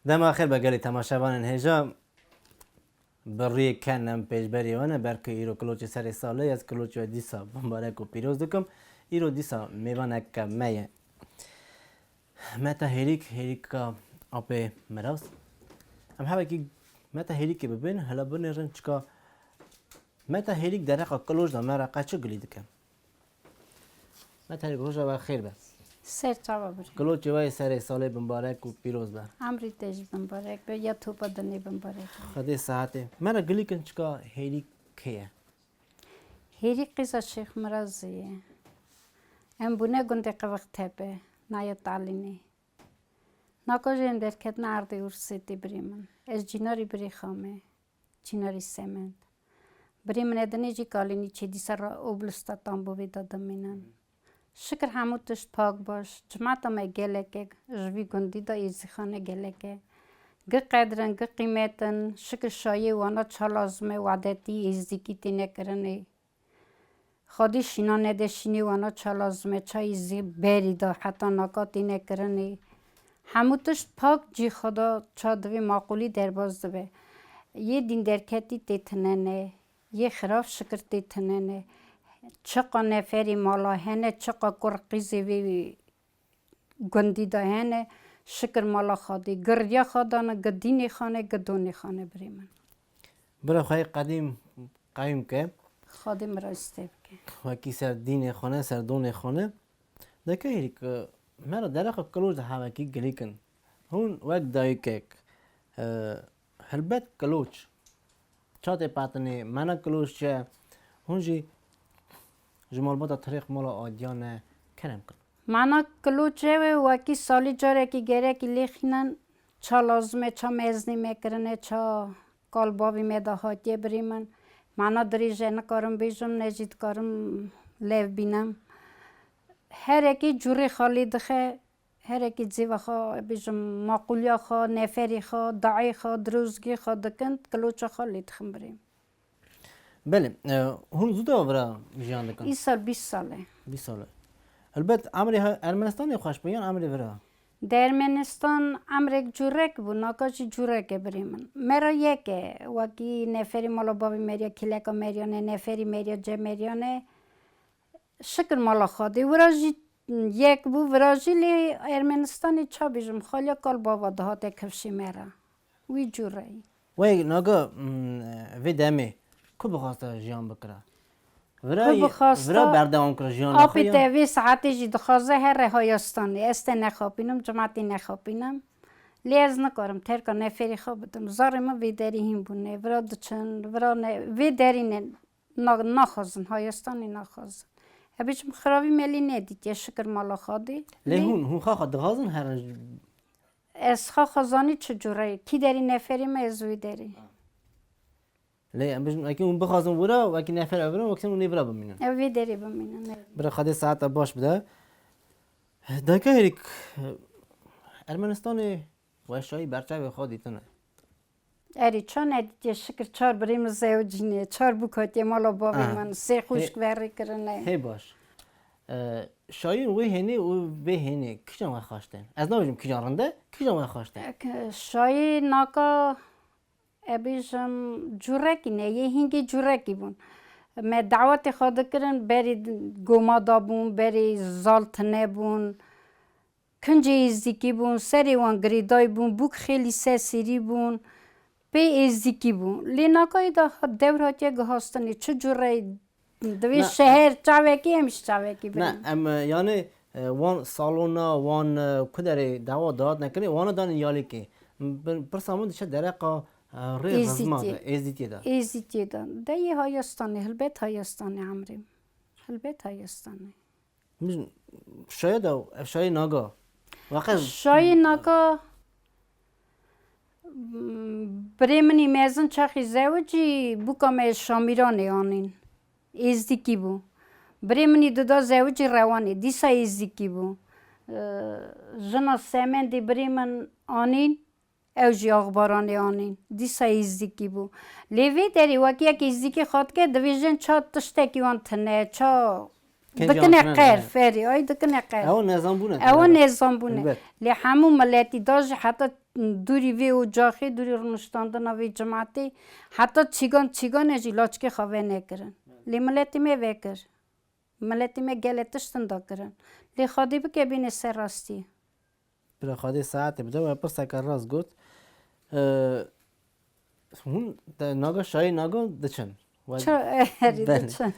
Dema xêr be gelê temaşevanên hêja bi rê ken em pêşberî wan e belkî îro kiloçê serê sal e ez kiloçê we dîsa mûbarek û pîroz dikim. Îro dîsa mêvanek me ye. Meta hêrîk hêrîka apê miras. Em hevekî meta hêrîkê bibin hela binêrin çika meta hêrîk dereqa kiloj da me re qe çi gilî dike. Meta hêrîk roja we xêr be. Ser çava bir. Kiloçê we yê serê salê bimbarek û pîroz be. Emrî te jî bimbarek be ya topa dinê bimbarek be. Xwedê sehetê me re gilîkin çika hêrîk kê ye. Hêrî qîza Şêx Mirazê ye. Em bûne gundê Qiviqtepe, nayê Talînê. Naka jê em derketina erdê Ursê tê birê min. Ez Cînarî birê xa me, Cînarî Semend. Birê min e dinê jî Kalînî çê dîsa ra Oblûsta Tambovê de dimînin. Şikir hemû tişt pak baş. Cemata me geleke ji vî gundî de êzîxane geleke gi qedir in, gi qîmet in. Şikir şayê wana çar lazime wadetî, êzdîkî têne kirinê. Xwedî şîna nede şînê wana çar lazime ça êzî berî da heta naka têne kirinê. Hemû tişt pak cî xwe da ça divê maqûlî derbas dibe. Yê dîn derketî tê tinene. Yê xirav şikirtî tinenê. Çiqa neferî mala hene çiqa kur qîzê vî gundî de hene şikir mala xadî girya xadana gi dînê xanê gi donê xanê birê min. Bira xwe yê qedîm qeyûm ke. Xadî mi ra îstê bike. Wekî ser dînê xwe ne ser donê xwe ne. Deke hîrî ku me ra derexa Kiloj de hevekî girîk in. Hûn wek dayikek. Helbet Kiloç ça tê patinê, Mena Kiloç çi ye? Hûn jî ji malbata Tirêq Mala Adiya ne kerem kin. Mena Kiloç çi ye? Wekî salî carekî gêrekî lê xînin, ça lazim e, ça mêznî me kirine, ça kal bavî me de hatiye birî min. Mena dirêj e, nikarim bêjim, ne jî dikarim lêv bînim. Herekî curê xalî dixe, Herekî cîva xwe bêjim maqûliya xwe, neferî xwe, dayê xwe, dirozgî xwe dikin, kiloça xwe lê dixin birê min. Belê, hûn zû dewa vira jiyan dikin? Îsal bîst sal e. Bîst sal e. Helbet emrê Ermenistanê xweş bû yan emrê vira? Di Ermenistan emrek curek bû, naka jî curek e birê min. Me re yek e. Wekî neferî mala bavê Merya Kêleka Meryan e, neferî Merya Cem Meryan e. Şikir mala Xwedê. Wira jî Yek bû virajîlê Ermenistanê ça bêjim xaliya kalbava dihate kevşê me re. Wî cû re yî. Wê naga vê demê ku bixwaste jiyan bikire? Vira yî vira berdewam kira jiyana xwe ya? Apê te vê saetê jî dixwaze her re haya stanê. Ez te nexapînim, cemaetê nexapînim. Lê ez nikarim terka neferî xwe bidim. Zarê min vê derî hîn bûne. Vira diçin, vira ne vê derî ne. Na, naxwazin, hayestanî naxwazin. Hebî çi min xiravî melî nedîtiye, şikir mala Xadê. Lê hûn, hûn xaxa dixwazin her roj. Ez xaxa zanî çi cure ye. Kî derî neferê me ez wê derî. Lê em bijîm wekî hûn bixwazin wira û wekî nefer ev birin wekî din hûn ê vira bimînin. Ew vê derê bimînin, ne. Bira Xadê saeta baş bide. Dayika herî Ermenistanê weşayî berçavê xwe dîtine. Erê ça nedîtiye şikir çar birê min zey û cinê çar bûk hatiye mala bavê min sê xwişk verê kirine. Hê baş. Şayîn wê hênê û vê hênê kijan we xaş tên? Ez nabêjim kijan rind e, kijan we xaş tên? Şayî naka e bêjim curekî ne yê hîngê curekî bûn. Me dawetê xwe dikirin berî goma dabûn, berî zal tine bûn. Kincê êzdîkî bûn, serê wan girêday bûn, bûk xêlî ser sêrî bûn, pê êzdîkî bûn. Lê nagayê de dewr hatiye guhastinê, çi cure divê şeher çavekî em jî çavekî birin. Ne, em yanê wan salona, wan kuderê dawa da hatine kirinê, wana danê yalêkê. Pirsa min diçe dereqa rê rizma de, êzdîtiyê de. Êzdîtiyê de. Deyê hayestanê, hilbet hayestanê emrê min. Hilbet hayestanê. Min şayê da ev şayê naga. Waqe şayê naka birê min ê mezin çaxî zewicî bûka me Şamîranê anîn. Êzdîkî bû. Birê min ê dida zewicî Rewanê. Dîsa êzdîkî bû. Jina Semendê birê min anîn Ew jî axbaranê anîn. Dîsa îzdîkî bû. Lê vê derê wek yek îzdîkî xatike dibêjin ça tiştekî wan tune, ça dikine qer, ferê, ay dikine qer. Ew nezanbûn e. Ew nezanbûn e. Lê hemû miletî da jî heta dûrî vê ocaxê, dûrî rûniştandina vê cimetê, heta çîgan çîgan e jî laçkê xwe venekirin. Lê miletê me vekir. Miletê me gelê tiştin da kirin. Lê Xwedê bike bînê ser rastî. Bila Xwedê saetê bide we pirseke rast got. Hûn naga şayî naga diçin. Çi herî diçin.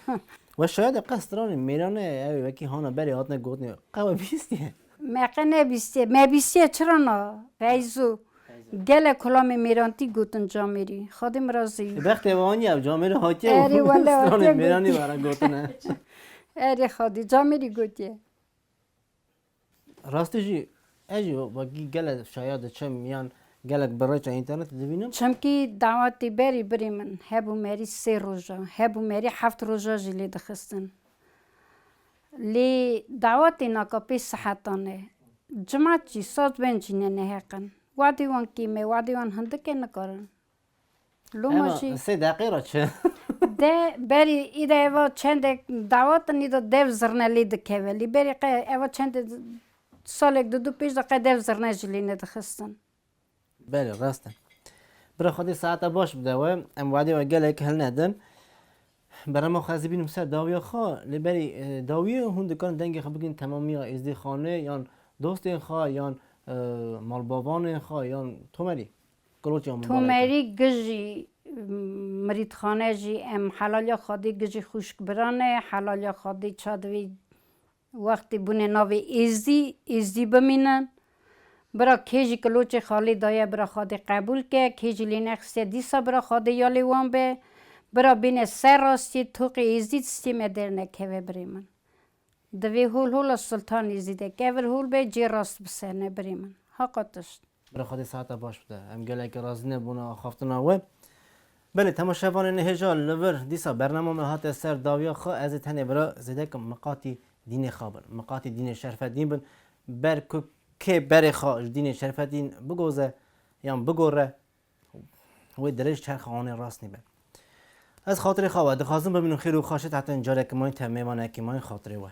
We şaya de qe stranê mêrane ew wekî hana berê hatine gotinê qe we bîstiye. Me qe nebîstiye. Me bîstiye çira na Feyzo gelek kulamê mêrantî gotin camêrî. Xwedê min re zî. Bi bextê wan ya camêrî hatiye û stranên mêranî ve re gotine. Erê xwedî camêrî gotiye. Rastî jî ez jî wekî gelek şaya diçim yan gelek bi reça înternetê dibînim. Çimkî dawetê berî birê min hebû merî sê roja hebû merî heft roja jî lê dixistin. Lê dawetên akp sehetan e. Cimat jî saz bên jî ne neheq in. Wadê wan kêm e, wadê wan hindik e nikarin. Loma jî. Ema sê deqê re çi. De berî îde eva çendek dawet in îde dev zirne lê dikeve. Lê berî qe eva çendek salek di du pêş de qe dev zirne jî lê nedixistin. Belê rast e. Bira Xwedê saeta baş bide we. Em wadê we gelek hilnedin. Berama xwe ez ê bînim ser dawiya xwe. Lê berî dawiyê hûn dikarin dengê xwe bigrin temamiya Êzdîxanê yan dostên xwe yan malbabanên xwe yan Tomerî. Tomerî Gijî mirîdxane jî em helaliya Xwedê Gijî xwîşkbiran e, helaliya Xwedê çad vê Wextê bûne navê Êzdî, Êzdî bimînin. Bira kê jî kiloçê xalê daye bira xadê qebûl ke, kê jî lê nexistiye dîsa bira xadê ya lê wan be. Bira bêne ser rastiyê, toqê Êzdî tistiyê me dernekeve birê min. Divê hol hola Sultan Êzdî de kevir hol be cê rast bisene birê min. Haqa tişt. Bira Xwedê sehata baş bide. Em gelekî razî nebûne axaftina we. Belê Tema Şevanê nihêja li vir. Dîsa bernama me hate ser dawiya xwe ez ê tenê bira zêdeke miqatî dînê xwe bin. Miqatî dînê şerfedîn bin. Ber ku kê berê xwe ji dînê şerfedîn bigoze yan bigore Wê dirêj çerxa onê rast nîbe. Ez xatirê xwe we dixwazim bi min û xêr û xaşê te tên carek mayîn te mêvanekî mayîn xatirê we.